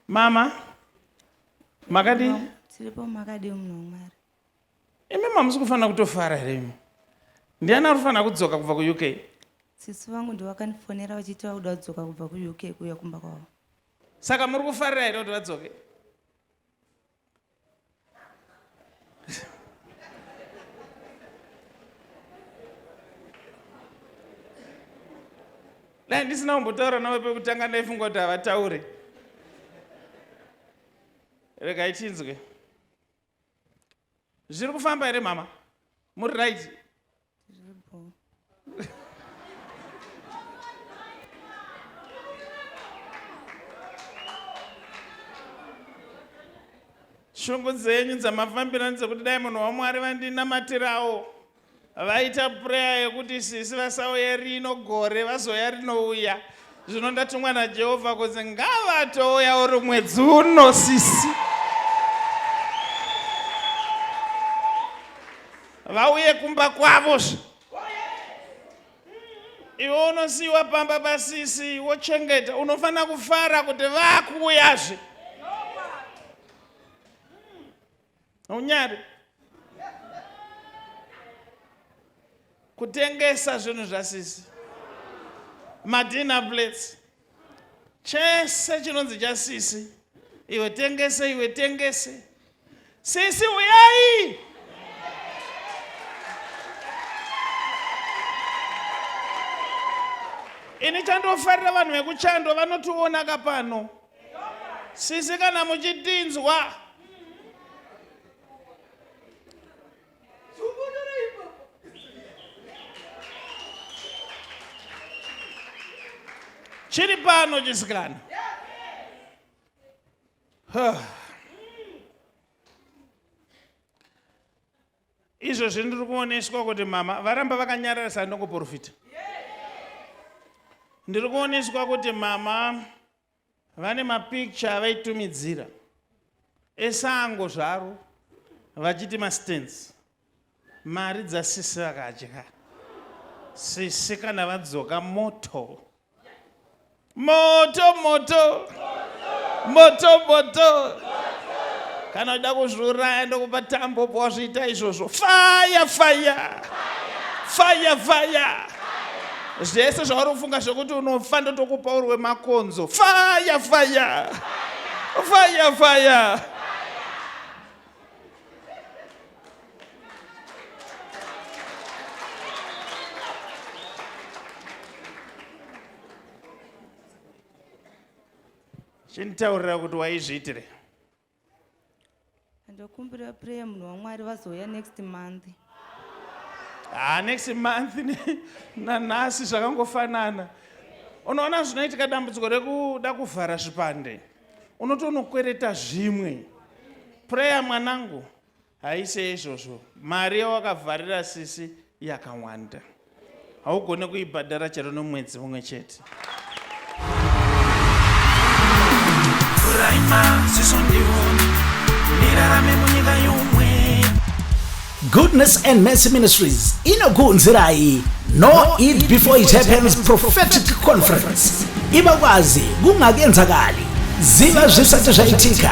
mama makadi tiripo makadi munhu wamwari imi mamusi kufanira kutofara here imi ndiani ari kufanira kudzoka kubva kuuk sisi vangu ndo vakandifonera vachiti vakuda kudzoka kubva kuuk kuuya kumba kwavo saka muri kufarira here kuti vadzoke dai ndisina kumbotaura navo pekutanga ndaifunga kuti havataure regai tinzwe zviri kufamba here mama muri right Tiripo. shungu dzenyu dzamafambira ndedzekuti dai munhu wamwari vandinamatirawo vaita pureya yekuti sisi vasauye rino gore vazoya rinouya zvino ndatumwa najehovha kunzi ngavatouya uri mwedzi uno sisi vauye kumba kwavo zve iwe unosiyiwa pamba pasisi wochengeta unofanira kufara kuti vakuuyazve unyari kutengesa zvinhu zvasisi madina plates chese chinonzi chasisi iwe tengese iwe tengese sisi uyai ini chandofarira vanhu vekuchando vanotiona ka pano sisi kana muchitinzwa chiri pano chisikana izvo zvindiri kuoneswa kuti mama varamba vakanyararisa ndokuporofita ndiri kuoneswa kuti mama Vane mapicture avaitumidzira esango zvaro vachiti mastens mari dzasisi vakadya sisi kana vadzoka moto moto moto moto moto kana uda kuzviuraya ndokupa tambo po wazviita izvozvo faya faya faya faya Zvese zvauri kufunga zvekuti unofa ndotokupa uri wemakonzo. Fire fire. Fire fire. Chintaurira kuti waizviitire. ndokumbira prayer munhu wamwari vazouya next month ah, next month nanhasi zvakangofanana unoona zvinoitika dambudziko rekuda kuvhara zvipande unotonokwereta zvimwe prayer mwanangu Haise izvozvo, mari yawakavharira sisi yakawanda, haugone kuibhadhara chero nomwedzi mumwe chete. Goodness and Mercy Ministries inokuunzirai No Eat Before It Happens Prophetic Conference. Ibakwazi kungakenzakali ziva zvisati zvaitika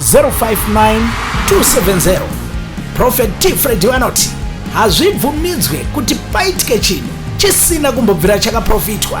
059270 prophet t fredi vanoti hazvibvumidzwe kuti paitike chinhu chisina kumbobvira chakaprofitwa